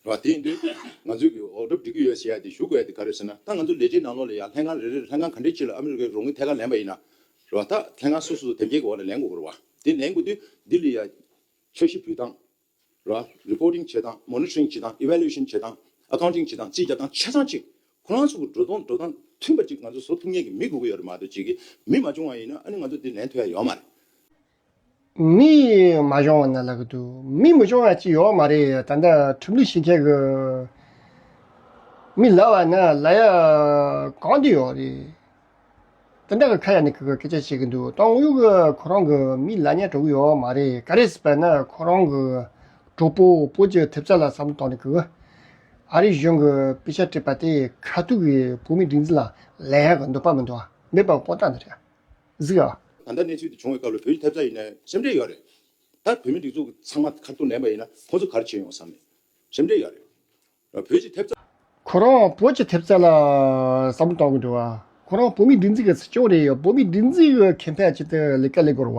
བ་དེ་ཡིན་དུས། ང་ཚོས་གིས་འོག་སྒྲུབ་སྒྲིག་གི་ཡོད་ཟེར་ཡ་དེ་ཞུ་དགོས་ཡ་དེ་ག་རེད་ཟེར་ན་ད་ང་ཚོ་ལས་བྱེད་ནང་ལོགས་ལ་ཡ་ལྷན་ཁང་རེ་རེར་ལྷན་ཁང་ག་འདྲའི་ཆེ་ལ་ཨ་མི་རི་ཀའི་རོགས་དངུལ་ཐད་ཀར་ལེན་པ་ཡིན་ན་རོགས་ཐ་ལྷན་ཁང་སོ་སོ་སུ་དེབ་སྐྱེལ་གི་འོག་ལ་ལེན་དགོས་དགོས་ར་བ་དེ་ལེན་དགོས་དུས་འདི་ལི་ཡ་འཆར་གཞི་འབུལ་སྟངས་ར་བ Reporting བྱེད་སྟངས Monitoring བྱེད་སྟངས Evaluation བྱེད་སྟངས Accounting བྱེད་སྟངས་རྩིས་རྒྱག་སྟངས་ཆ་ཚང་གཅིག་ཁོ་རང་ཚོ་གི་འགྲོ་སྟངས་འགྲོ་སྟངས་མཐུན་པ་གཅིག་ང་ཚོ་བཟོ་ཐུབ་ངེས་ཀྱི་མི་དགོས་ཀྱི་ཡོད་རེད་མ་གཏོགས་གཅིག་གིས་མི་མ་བྱུང་བ་ཡིན་ན་ཨ་ནི་ང་ཚོ་དེ་ལེན་ཐུབ་ཡ་ཡོད་མ་རེད། མི་མ་སྦྱོང་བ་ན་ལག་གི་འདུག་མི་མི་སྦྱོང་བ་ཅི་ཡོད་མ་རེད་ད་ལྟ་ཁྲིམས་ལུགས་ཤིག་ཁྱེད་ཀྱི་མི་ལ་བ་ན་ལ་ཡ་གང་དུ་ཡོད་རེད་ད་ལྟ་གི་ཁ་ཡ་ནི་གི་གི་སྐད་ཆ་བཤད་གི་འདུག་ཏང་ཨུ་གི་ཁོ་རང་གི་མི་ལ་ཉན་འགྲོ་གི་ཡོད་མ་རེད་ག་རེ་ཟེར་པ་ན་ཁོ་རང་གི་གྲོགས་པོ་བོད་ཀྱི་ཐེབས་རྩ་ལ་བསམ་བློ་བཏང་ནས་གི་ཨ་རི་གཞུང་གི་དཔེ་ཆ་སྤྲད་པ་དེ་ཁ་ཐུག་གི་བོད་མི་སྒྲིག་འཛིན་ལ་ལ་ཡ་གི་འདོད་པ་མི་འདུག་མེད་པ་ཁོ་ཐག་ནི་རེད། གཟིགས་ཨ། ད་ལྟ་གནས་ཚུལ་འདི་བྱུང་བའི་སྐབས་ལ་བོད་ཀྱི་ཐེབས་རྩ་ཡིན་ན་སེམས་ཁྲལ་ཡོད་རེད། ད་བོད་མི་སྒྲིག་འཛུགས་ཚང་མ་ཁ་ཐུག་ལན་པ་ཡིན་ན་ཁོང་ཚོ་གར་བྱེད་ཡོང་བསམ་མེད། སེམས་ཁྲལ་ཡོད་རེད། བོད་ཀྱི་ཐེབས་རྩ། ཁོ་རང་བོད་ཀྱི་ཐེབས་རྩ་ལ་བསམ་བཏང་གི་འགྲོ་བ། ཁོ་རང་བོད་མི་སྒྲིག་འཛུགས་ཀྱི་སྲིད་སྐྱོང་རེད་ཡོད་བོད་མི་སྒྲིག་འཛུགས་གི་མཁན་ཕལ་ཆེ་དེ་ལས་ཀ་ལས་སྒོར་བ།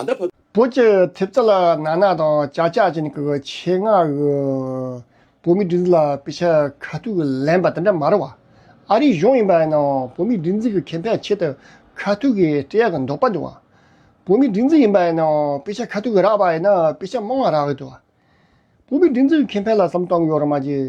ད་ལྟ་བབ། བོད་ཀྱི་ཐེབས་རྩ་ལ་ནག་ནག་དང་ལྕགས་ལྕགས་ཅན་གྱི་ཆེད་མངགས་ཀྱི་བོད་མིའི་སྒྲིག་འཛུགས་ལ་དཔེ་ཆ་ཁ་ཐུག་ལེན་པ་དེ་འདྲ་མ་རེད་བ། ཨ་རིའི་གཞུང་ཡིན་པ་ཡིན་ནའང་བོད་མིའི་སྒྲིག་འཛུགས་ཀྱི་ཁེ་ཕན་ཆེད་དུ་ཁ་ཐུག་གི་སྤྲད་ཡག་གི་འདུག་པ་འདུག་བ། བོད་མིའི་སྒྲིག་འཛུགས་ཡིན་པ་ཡིན་ནའང་དཔེ་ཆ་ཁ་ཐུག་གི་རག་པ་ཡིན་ན་དཔེ་ཆ་མང་བ་རག་གི་འདུག་བ། བོད་མིའི་སྒྲིག་འཛུགས་ཀྱི་ཁེ་ཕན་ལ་བསམ་གཏོང་གི་ཡོག་རེད་མ་གྱིས།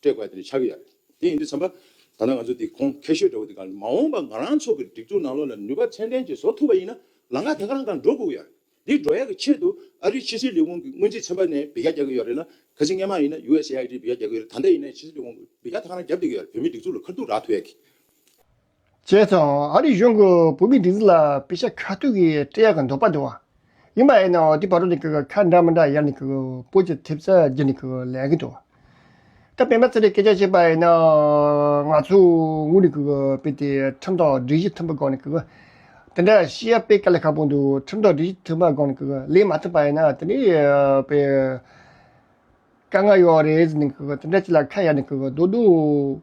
སྤྲད་དགོས་ཡ་དེ་ཆགས་ཀྱི་ཡ་རེད། དེ་ཡིན་དུས་ཚང་པ། ད་ལྟ་ང་ཚོ་འདི་ཁོང་ཁེ་ཤོས་འདྲ་བོ་འདི་གང་མ་འོངས་པ་ང་རང་ཚོ་གི་སྒྲིག་འཛུགས་ནང་ལོགས་ལ་ནུས་པ་ཚན་ལྡན་གྱི་བཟོ་ཐུབ་པ་ཡིན་ན་ལང་ཀ་དེ་ག་རང་གང་འགྲོ་དགོས་ཀྱི་ཡ་རེད། འདི་འགྲོ་ཡ་གི་ཆེད་དུ་ཨ་རིའི་ཕྱི་སྲིད་ལས་ཁུངས་ཀྱི་སྔོན་རྩིས་ཚན་པ་ནས་བེད་རྒྱ་རྒྱག་གི་ཡོད་རེད་ན་གལ་སྲིད་སྔས་མ་ཡིན་ན USA ཨ་རིའི་བེད་རྒྱ་རྒྱག་གི་ཡོད་རེད་ད་ལྟ་ཡིན་ན་ཕྱི་སྲིད་ལས་ཁུངས་ཀྱི་བེད་རྒྱ་དེ་ག་རང་རྒྱབ་དགོས་ཀྱི་ཡ་རེད་བོད་མིའི་སྒྲིག་འཛུགས་ལ་ཁ་ཐུག་རག་ཐུབ་ཡ་གི། བྱས་ཙང་ཨ་རིའི་གཞུང་གིས་བོད་མིའི་སྒྲིག་འཛུགས་ལ་དཔེ་ཆ་ཁ་ཐུག་གིས་སྤྲད་ཡག་གི་འདོད་པ་འདུག་བ། ཡིན་པ་ཡིན་ནའང་དེ་བར་དུ་ནི་ཁ་འདྲ་མ་འདྲ་ཡར་ནི་སྤོ་ཅི་ཐེབས་ས་རྒྱུ་ནི་ལས་གི་འདུག་ད་པད་མ་ཚེ་རིང་སྐད་ཆ་བཤད་པ་ཡིན་ན། ང་ཚོས་དངུལ་ནི་སྤེལ་ཏེ་ཁྲིམས་ཐོག་སྒྲིག་གཞི་མཐུན་པའི་སྒོ་ནས་དེ་འདྲ་ཤེས་ཡ་སྤེལ་ག་ལ་ཁག་པོ་འདུག་ཁྲིམས་ཐོག་སྒྲིག་གཞི་མཐུན་པའི་སྒོ་ནས་ལེན་མ་ཐུབ་པ་ཡིན་ན་དེ་འདྲའི་དཔེ་དཀའ་ངལ་ཡོད་རེད་ཟེར་ནས་དེ་འདྲ་ཅིག་ལ་ཁ་གཡར་ནས་སྡོད་འདུག།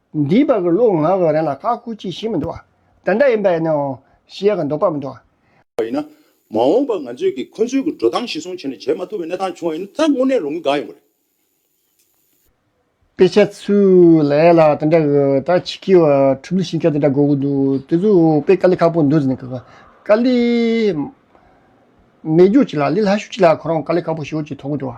འདིའི་བར་གྱི་ལུགས་ངག་གི་རིང་ལ་ཁག་ཁུར་གྱིས་ཤིག་མི་འདུག་བ། དེ་འདྲ་ཡིན་པ་ཡིན་ནའང་ཞེས་ཀྱང་འདོགས་པ་མི་འདུག། བ་ཡིན་ན། མ་འོངས་པར་ང་ཚོས་ཀྱིས་ཁོ་ཚོའི་གྱི་འགྲོ་སྟངས་གཞི་བཟུང་བྱས་ནས་བྱེད་མ་ཐུབ་པའི་གནས་སྟངས་བྱུང་བ་ཡིན་ན་རྩ་དངོས་གནས་ལོ་ངོ་འགའ་ཡོང་གི་རེད། དཔེ་ཆ་ཚོའི་ལས་ལ་དེ་འདྲ་གི་ད་ཆི་ཁའི་བ་ཕྲུག་ལུས་ཤིང་ཁ་དེ་འདྲ་དགོས་གི་འདུག་དེ་ཚོའི་དཔེ་དཀའ་ལས་ཁག་པོ་འདུག་ཟེར་ནས་གི་གི་དཀའ་ལས་མེད་རྒྱུག་ཅིག་ལ་ལས་ལྷ་ཞུགས་ཅིག་ལ་ཁོ་རང་དཀའ་ལས་ཁག་པོ་ཞུགས་ཀྱིས་ཐོག་གི་འདུག་བ།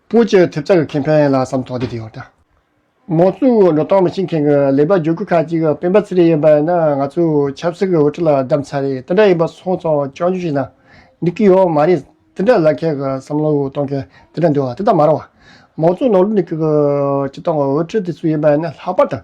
པོ་ཆེ་ཐེབས་རྩ་གི་ཁེ་ཕན་ཡིན་ལ་བསམ་ཐོག་དེ་དེ་ཡོད། མང་གཙོའི་འགྲོ་སྟངས་མི་ཤེས་མཁན་གྱི་ལས་པ་རྒྱུག་ཁུལ་ཁག་ཅིག་སྤེན་པ་ཚེ་རིང་ཡིན་པ་ཡིན་ན་ང་ཚོས་ཆབ་སྲིད་ཀྱི་འོས་ཁྲི་ལ་བདམས་ཚར་རེད་དེ་འདྲ་ཡིན་པ་སོང་ཙང་སྤྱང་རྒྱུ་ཞིག་ན་འགྲིག་གི་ཡོད་མ་རེད་དེ་འདྲ་ལ་ཁྱེད་ཀྱི་བསམ་བློ་གཏོང་མཁན་དེ་འདྲ་འདུག་ཨ་དེ་དག་མ་རང་བ། མང་གཙོའི་ནང་ལུགས་འདི་གི་སྤྱི་བཏང་གི་འོས་ཁྲི་དེ་ཚོ་ཡིན་པ་ཡིན་ན་ལྷག་པར་དང།